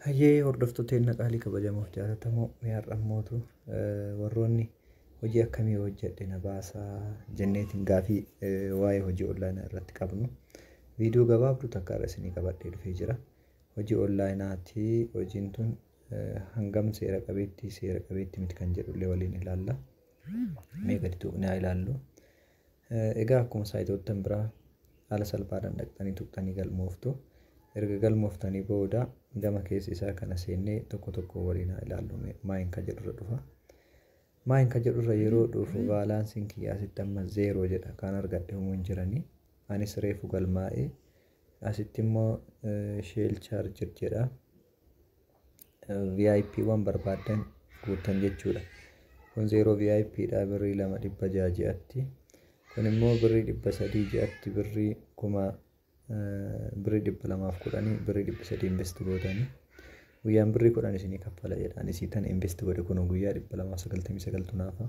Hayyee hordoftoota keenya qaalii kabajamoo fi jaallatamoo mee har'a immootu warroonni hojii akkamii hojjedhe na baasaa jenneetiin gaafii waa'ee hojii onlaayinaa irratti qabnu viidiyoo gabaabduu takka irra isinii qabadhee dhufee jira. Hojii onlaayinaati hojiin tun hangam seera qabeetti seera qabeetti miti kan jedhullee waliin ilaalla. Mee gadi tuqnee haa ilaallu. Egaa akkuma saayitoottan biraa haala salphaadhaan dhaqxanii tuqxanii galmooftu. Erga galmooftanii booda gama keessa isaa kana seennee tokko tokkoon waliin haa ilaallu mee. Maayin ka jedhurra dhufa. Maayin ka jedhurra yeroo dhufu baalaansiin kiyya asitti amma zeeroo jedha kaan argadhe humuu hin jiranii. Anis reefu galmaa'ee asitti immoo sheel chaarjid jedha. vip wan barbaaddan guuttan jechuudha kun zeeroo vip dha birrii lama dhibba jaha ji'atti kun immoo birrii dhibba sadii ji'atti birrii kuma birrii dhibba lamaaf kudhanii birrii dhibba sadii invest gootanii guyyaan birrii kudhan isinii kaffala jedhaan isii tan invest godhe kun guyyaa dhibba lamaa sagaltamii sagaltu naafa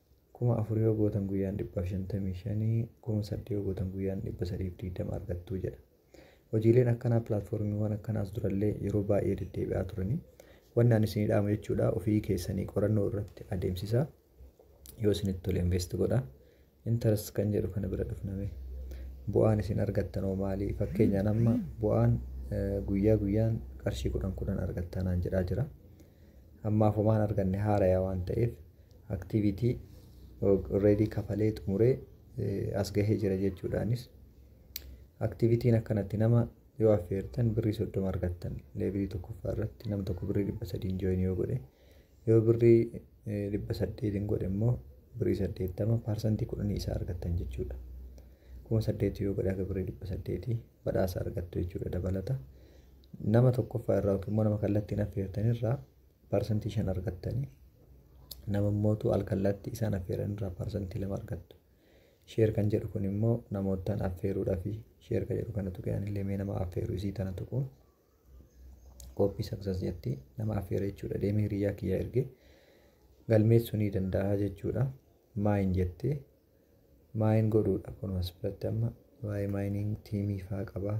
Kuma afurii yoo gootan guyyaan dhibbaaf shantamii shanii, kuma saddeet yoo gootan guyyaan dhibba sadiif digdama argattu jedha. Hojiileen akkanaa pilaatfoormiiwwan akkanaa as durallee yeroo baay'ee deddeebi'aa turanii. Wanni ani isinii dhaamu jechuudha ofii keessanii qorannoo irratti adeemsisaa. Yoo isinitti tole invest godha. Interest kan jedhu kana bira dhufname. Bu'aan isin argattan hoo maali? Fakkeenyaan amma bu'aan guyyaa guyyaan qarshii kudhan kudhan argattanaan jedhaa jira. Ammaaf homaan arganne haaraya waan ta'eef activity already kafalee xumuree as gahee jira jechuudhaanis activitiin akkanatti nama yoo affeertan birrii soddoma argattan leevilii tokkoffaa irratti nam tokko birrii dhibba sadiin jooyin yoo godhe yoo birrii dhibba saddeetiin godhe immoo birrii saddeettama paarsantii kudhanii isaa argattan jechuudha. kuma saddeetii yoo godhe akka birrii dhibba saddeetii badhaasa argattu jechuudha dabalata. Nama tokkoffaa irraa yookiin immoo nama kallattiin affeertan irraa Parsantii 5 argattanii nama immootu alkallaatti isaan affeeran irraa parsantii 2 argattu. Sheer kan jedhu kun immoo namoottan affeeruudhaa fi sheer kan jedhu kana tuqee anillee mee nama affeeru isii tana tuqu. Kooppii saksas jetti nama affeera jechuudha deemee hiriyyaa kiyyaa ergee galmeessuu ni danda'a jechuudha. Maayin jettee Maayin godhuudha kun as biratti amma waa'ee mining tiimii faa qaba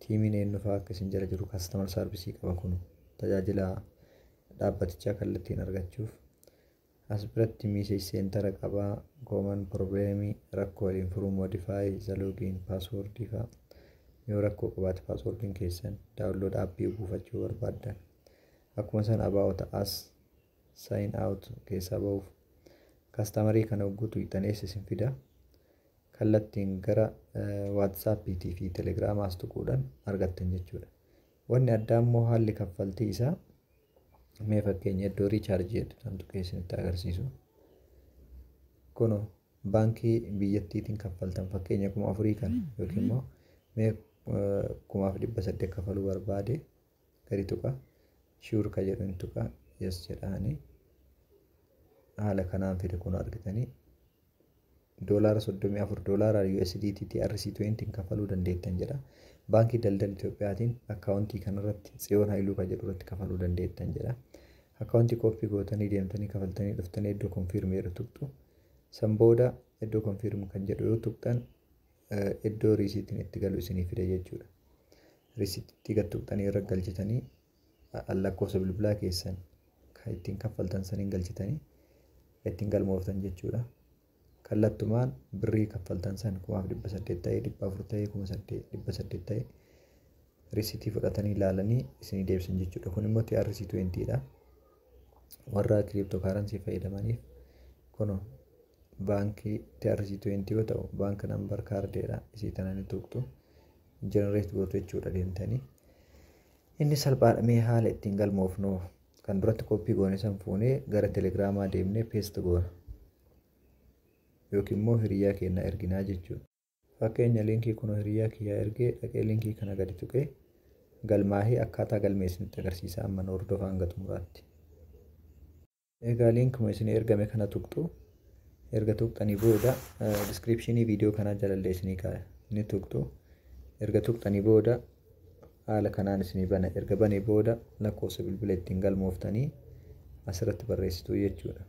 tiimiin eenyu faa akka isin jala jiru customer service qaba kun tajaajila dhaabbatichaa kallattiin argachuuf as biratti message center qaba common problem rakkoo waliin furuu modify the login password faa yoo rakkoo qabaate passwordin keessan download appii buufachuu barbaaddan akkuma san about us sign out keessaa ba'uuf kastamarii kana hogguu tuqxan eessa isin fida kallattiin gara WhatsApp fi Telegram as tuquudhaan argattan jechuudha. Wanni addaa immoo haalli kaffaltii isaa mee fakkeenya iddoo riichaarjii jedhu kan tuqee isinitti agarsiisu. Kunoo baankii biyyattiitiin kaffaltan fakkeenya kuma afurii kana yookiin immoo mee kumaaf dhibba saddeet kafaluu barbaade gadi tuqa sure ka jedhu hin tuqa yes jedhaani haala kanaan fide kun argitanii doolaara 34 doolaara USDT TRC20 hin kafaluu dandeettan jedha baankii daldala Itoophiyaatiin akkaawuntii kanarratti tsiyoon hailuu ka jedhu irratti kafaluu dandeettan jedha akkaawuntii kooppii gootanii deemtanii kafaltanii dhuftanii iddoo konfiirmii irra tuqxu san booda iddoo konfiirmii kan jedhu yoo tuqxan iddoo riisiitiin itti galu isinii fida jechuudha. Riisiitti gad tuqxanii irra galchitanii lakkoofsa bilbilaa keessan kan ittiin kaffaltan saniin galchitanii ittiin galmooftan jechuudha. Kallattumaan birrii kaffaltan san kumaaf dhibba saddeet ta'ee dhibba afur ta'ee kuma saddeet dhibba saddeet ta'ee riisiitii fudhatanii ilaalanii isinii deebisan jechuudha. Kun immoo TRC20 dha. Warra kiriiptoo kaaransii fayyadamaniif kunoo baankii TRC20 yoo ta'u bank number kaardeedha isii tana ni tuqxu generate gootu jechuudha deemtanii inni salphaadha mee haala ittiin galmoofnu kan duratti koppii goone san fuunee gara telegiraamaa deemnee peest goona yookiin immoo hiriyaa keenna erginaa jechuudha fakkeenya liinkii kun hiriyaa kiyyaa ergee dhaqee liinkii kana gadi tuqee galmaahii akkaataa galmeessinitti agarsiisa amma hordofaa hanga xumuraatti. Egaa liinkuma isinii ergame kana tuqxu. Erga tuqxanii booda diskiripshinii viidiyoo kanaa jalallee isinii kaaya. Ni tuqxu. Erga tuqxanii booda haala kanaan isinii bana. Erga banee booda lakkoofsa bilbila ittiin galmooftanii asirratti barreessituu jechuudha.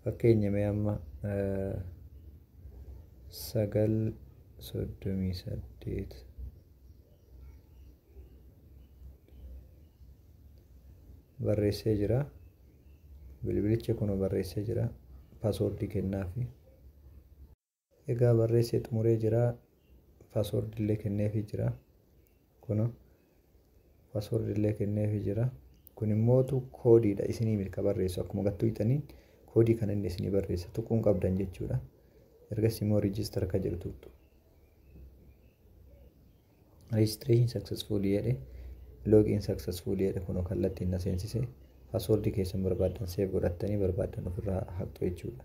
Fakkeenya mee amma sagal soddomii saddeet. barreessee jira bilbilicha kuno barreessee jira paaswoordii kennaafi egaa barreessee xumuree jira paaswoordii illee kenneefi jira kuno paaswoordii illee kenneefi jira kun immootu koodiidha isinii milka barreessu akkuma gattuu itaniin koodii kan inni isinii barreessa tuquun qabdan jechuudha ergasii immoo riijistar ka jedhu tuqxu Registration successful jedhe log in successful jedhe kunoo kallattiin na seensise password keessan barbaaddan save godhattanii barbaaddan ofirraa haqxu jechuudha.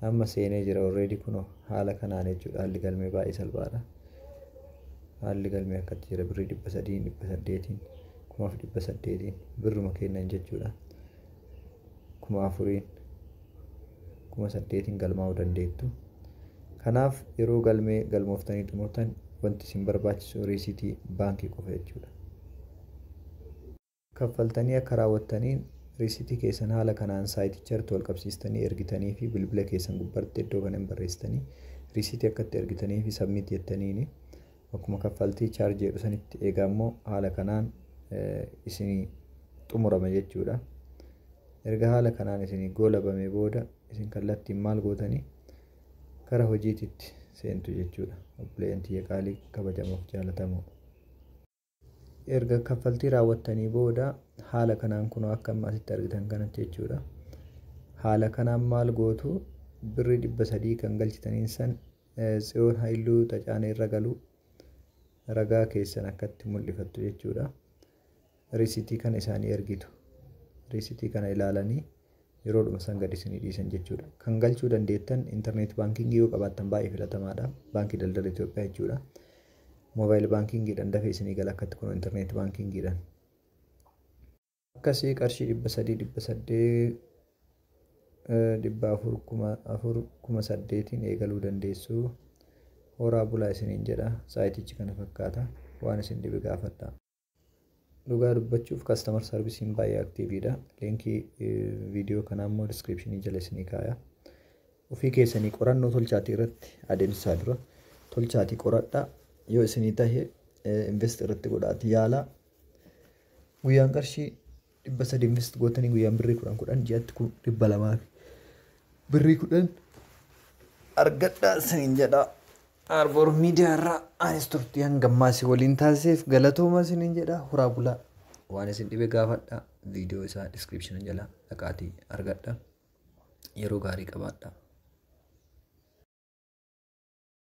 Amma seenee jira already kunoo haala kanaan jechuudha haalli galmee baay'ee salphaadha. Haalli galmee akkatti jira birrii dhibba sadiin dhibba saddeetiin kumaaf dhibba saddeetiin birruma kennan jechuudha. kuma afuriin kuma saddeetiin galmaa'uu dandeettu. Kanaaf yeroo galmee galmooftanii xumurtan wanti isin barbaachisu riisiitii baankii qofa jechuudha. Kaffaltanii akka raawwattaniin riisiitii keessan haala kanaan saayiticharratti walqabsiistanii ergitanii fi bilbila keessan gubbarratti iddoo kana hin barreessitanii riisiitii akka itti ergitanii fi submit jettaniini Bakkuma kaffaltii charge jedhu sanitti egaa immoo haala kanaan isinii xumurama jechuudha. Erga haala kanaan isinii goolabamee booda isin kallattiin maal gootanii gara hojiititti seentu jechuudha. Obboleeyyan tiyya qaalii kabajamoof jaalatamoo. Erga kaffaltii raawwattanii booda haala kanaan kunoo akka amma asitti argitan kanatti jechuudha. Haala kanaan maal gootu birrii dhibba sadii kan galchitaniin san tsiyoon haayiluu tacaana irra galu ragaa keessan akkatti mul'ifattu jechuudha. Riisitii kana isaanii ergitu. Riisitii kana ilaalanii yeroodhuma san gad isinii dhiisan jechuudha. Kan galchuu dandeettan internet banking yoo qabaattan baay'ee filatamaadha. Baankii daldala Itoophiyaa jechuudha. Mobile banking dhan dafee isinii gala akkatti kun internet banking dhan. Akkasii qarshii dhibba sadii dhibba saddeet dhibba afur kuma afur kuma saddeetiin eegaluu dandeessu. Horaa bulaa isiniin jedha. Saayitichi kana fakkaata. Waan isin dhibe gaafadha. Dhugaa dubbachuuf customer service'n baay'ee aktiiviidha. Liinkii viidiyoo kanaa immoo diskiripshinii jala isinii kaaya. Ofii keessanii qorannoo tolchaatii irratti adeemsisaa dura tolchaatii qoradhaa yoo isinii tahe invest irratti godhaatii yaalaa. Guyyaan qarshii dhibba sadii invest gootanii guyyaan birrii kudhan kudhan ji'atti kun dhibba lamaa fi birrii kudhan argadhaa isiniin jedhaa. Arboor miidiyaa irraa anis turtii hanga ammaa isin waliin taasiseef galatooma isiniin jedhaa horaa bulaa. Waan isin dhibe gaafadhaa viidiyoo isaa diskiripshina jalaa dhaqaatii argadhaa. Yeroo gaarii qabaadhaa.